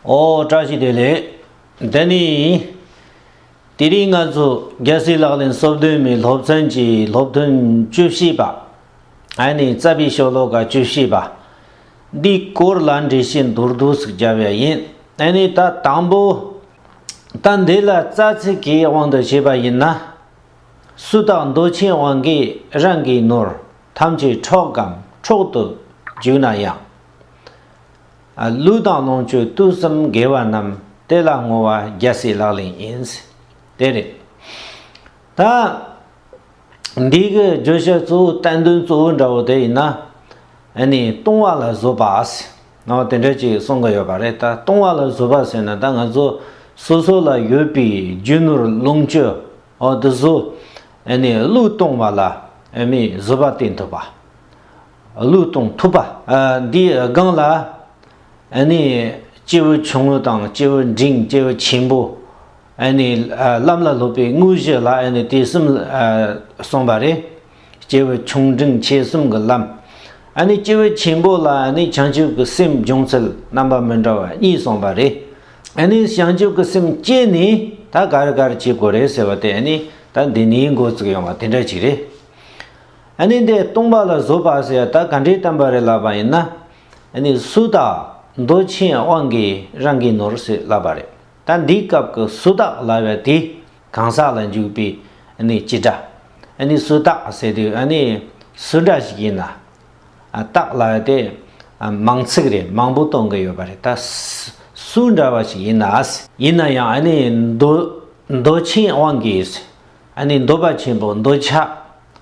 ཨོ་བཀྲ་ཤིས་བདེ་ལེགས། འདི་ནི། དེ་རིང་ང་ཚོ་རྒྱལ་སྲིད་ལག་ལེན་གསོལ་སྟོན་མའི་སློབ་ཚན་གྱི་སློབ་ཐུན་བཅུ་བཞི་པ། ཨ་ནི་རྩ་བའི་ཤོ་ལོ་ཀ་བཅུ་བཞི་པ། འདིའི་སྐོར་ལ་འགྲེལ་བཤད་མདོར་བསྡུས་སུ་བརྒྱབ་ཡ་ཡིན། ཨ་ནི་ད་དང་པོ། ད་འདི་ལ་རྩ་ཚིག་གི་དབང་དུ་བྱས་པ་ཡིན་ན། སུ་དག་མདོ་ཆེན་དབང་གིས་རང་གི་ནོར་ཐམས་ཅད་འཕྲོག་གམ་འཕྲོག་ཏུ་འཇུག་ན་ཡང། ལུས་དང་ལོངས་སྤྱོད་བཏུལ་གསུམ་དགེ་བ་རྣམས་དེ་ལ་བསྔོ་བ་རྒྱལ་སྲིད་ལག་ལེན་ཡིན། དེ་རེད། ད། འདིའི་གི་བརྗོད་བྱ་གཙོ་བོ་བསྟན་དོན་གཙོ་བོ་འདྲ་བོ་དེ་ཡིན་ན། ཨ་ནི་ལྟུང་བ་ལ་བཟོད་པ་ཨཱ། དེ་འདྲ་ཅིག་གསུང་གི་ཡོད་པ་རེད་ད་ལྟུང་བ་ལ་བཟོད་པ་ཟེར་ན་ད་ང་ཚོ་སོ་སོ་ལ་ཡོད་པའི་རྒྱུ་ནོར་ལོངས་སྤྱོད་འོ་དེ་བཟོ། ཨ་ནི་བློས་གཏོང་བ་ལ་ཨ་མི་བཟོད་པ་བསྟེན་ཐུབ་པ། གླུད་གཏོང་ཐུབ་པ། འདིའི་སྒང་ལ་ཨ་ནི་སྐྱེས་བུ་ཆུང་ངུ་དང་སྐྱེས་བུ་འབྲིང་སྐྱེས་བུ་ཆེན་པོ་ཨ་ནི་ལམ་ལ་སློབ་པའི་དངོས་གཞི་ལ་ཨ་ནི་དེ་གསུམ་གསུངས་པ་རེད། སྐྱེས་བུ་ཆུང་འབྲིང་ཆེ་གསུམ་གྱི་ལམ་ཨ་ནི་སྐྱེས་བུ་ཆེན་པོ་ལ་ཨ་ནི་བྱང་ཆུབ་ཀྱི་སེམས་སྦྱོང་ཚུལ་རྣམ་པ་མི་འདྲ་བ་གཉིས་གསུངས་པ་རེད། ཨ་ནི་བྱང་ཆུབ་ཀྱི་སེམས་སྐྱེས་ནས་ད་ག་རེ་ག་རེ་བྱེད་དགོས་རེད་ཟེར་བ་དེ་ཨ་ནི་ད་འདི་ནས་འགོ་བཙུགས་ཡོང་བ་དེ་འདྲ་ཅིག་རེད། ཨ་ནི་འདི་སྟོང་པ་ལ་བཟོ་པ་ཟེར་ཡ་ད་ག་འདྲའི་གཏམ་པ་རེད་ལབ་པ་ཡིན་ན། ཨ་ནི་སུ་དག་མདོ་ཆེན་དབང་གིས་རང་གིས་ནོར་ཟེར་ལབ་པ་རེད་ད་འདིའི་སྐབས་ཀྱི་སུ་དག་ལབ་ཡ་དེ་གང་ཟག་ལ་འཇུག་པའི་ཨ་ནི་སྤྱི་སྒྲ། ཨ་ནི་སུ་དག་ཟེར་དུས་ཨ་ནི་སུ་འདྲ་ཞིག་ཡིན་ན། ཨ་དག་ལབ་ཡ་དེ་མང་ཚིག་རེད་མང་པོ་གཏོང་གི་ཡོད་པ་རེད་ད། སུ་འདྲ་བ་ཞིག་ཡིན་ན། ཡིན་ན་ཡང་ཨ་ནི་མདོ་མདོ་ཆེན་དབང་གིས། ཨ་ནི་འདོད་པ་ཆེན་པོ་འདོད་ཆགས་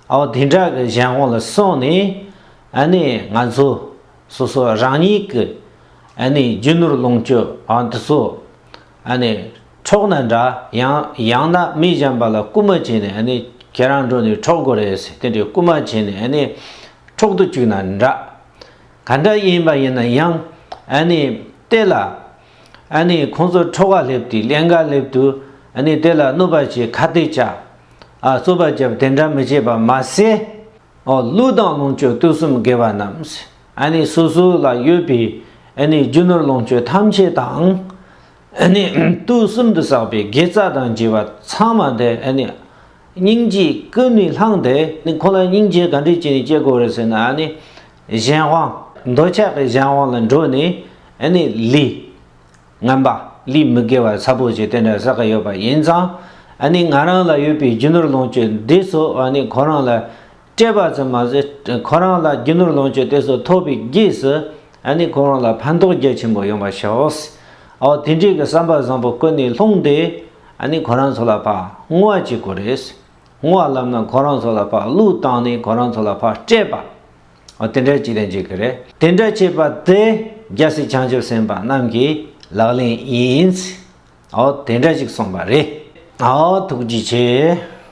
འོ་དེ་འདྲ་གི་གཞན་དབང་ལ་སོང་ནས་ཨ་ནི་ང་ཚོ་སོ་སོ་རང་ཉིད་ཀྱི་ཨ་ནི་རྒྱུ་ནོར་ལོངས་སྤྱོད་འོ་འདི་ཚོ་ཨ་ནི་འཕྲོག་ན་འདྲ་ཡང་ཡང་ན་མི་གཞན་པ་ལ་རྐུ་མ་བྱས་ནས་ཨ་ནི་ཁྱེད་རང་འགྲོ་ནས་འཕྲོག་དགོས་རེད་ཟེར་དེ་འདྲའི་རྐུ་མ་བྱས་ནས་ཨ་ནི་འཕྲོག་ཏུ་བཅུག་ན་འདྲ་ག་འདྲ་ཡིན་པ་ཡིན་ན་ཡང་ཨ་ནི་བལྟས་ལ། ཨ་ནི་ཁོང་ཚོར་ཁྲོ་བ་སླེབས་ཏེ་ཀླན་ཀ་སླེབས་དུས་ཨ་ནི་དེ་ལ་གནོད་པ་བྱེད་ཁ་གཏད་བཅག་ཨ་རྩོད་པ་བརྒྱབ་དེ་འདྲ་མི་བྱེད་པ་མ་ཟད། ཨོ་ཀླུ་དང་ལོངས་སྤྱོད་སྟོད་གསུམ་དགེ་བ་རྣམས་ཨ་ནི་སོ་སོ་ལ་ཡོད་པས་ཨ་ནི་རྒྱུ་ནོར་ལོངས་སྤྱོད་ཐམས་ཅད་དང། ཨ་ནི་སྟོད་གསུམ་དུ་བསགས་པའི་དགེ་རྩ་དང་བགྱི་བ་ཚང་མ་དེ་ཨ་ནི་སྙིང་རྗེའི་ཀུན་ནས་བསླངས་ཏེ་ཁོང་ལ་སྙིང་རྗེ་ག་འདྲས་བྱས་ནས་སྐྱེ་དགོས་རེད་ཟེར་ན་ཨ་ནི་གཞན་དབང། འདོད་ཆགས་ཀྱི་གཞན་དབང་ལ་འགྲོ་ནས་ཨ་ནི་ལི། རྔན་པ་ལི་མི་དགེ་བ་ཚ་པོ་ཞེས་དེ་འདྲ་ཟེར་གི་ཡོད་པ་ཡིན་ཙང། ཨ་ནི་ང་རང་ལ་ཡོད་པའི་རྒྱུ་ནོར་ལོངས་སྤྱོད་འདི་ཚོ་ཨ་ནི་ཁོ་རང་ལ་སྤྲད་པ་ཙམ་མ་ཟད། ཁོ་རང་ལ་རྒྱུ་ནོར་ལོངས་སྤྱོད་དེ་ཚོ་ཐོབ་པའི་རྗེས་སུ། ཨ་ནི་ཁོ་རང་ལ་ཕན་ཐོགས་རྒྱ་ཆེན་པོ་ཡོང་པ་ཤོག། ཨོ་དེ་འདྲའི་གི་བསམ་པ་བཟང་པོ་ཀུན་ནས་ལྷུང་སྟེ། ཨ་ནི་ཁོ་རང་ཚོ་ལ་ཕ་བསྔོ་བ་བྱེད་དགོས་རེད། བསྔོ་བ་ལབ་ན་ཁོ་རང་ཚོ་ལ་ཕ་བླུགས་བཏང་ནས་ཁོ་རང་ཚོ་ལ་ཕ་སྤྲད་པ། ཨོ་དེ་འདྲ་ཅིག་ལས་འཇིག་གི་རེད། དེ་འདྲ་བྱས་པ་དེ་རྒྱལ་སྲིད་བྱང་ཆུབ་སེམས་དཔའ་རྣམས་ཀྱི་ལག་ལེན་ཡིན། ཨོ་དེ་འདྲ་ཅིག་གསུངས་པ་རེད། ཨོ་ཐུགས་རྗེ་ཆེ།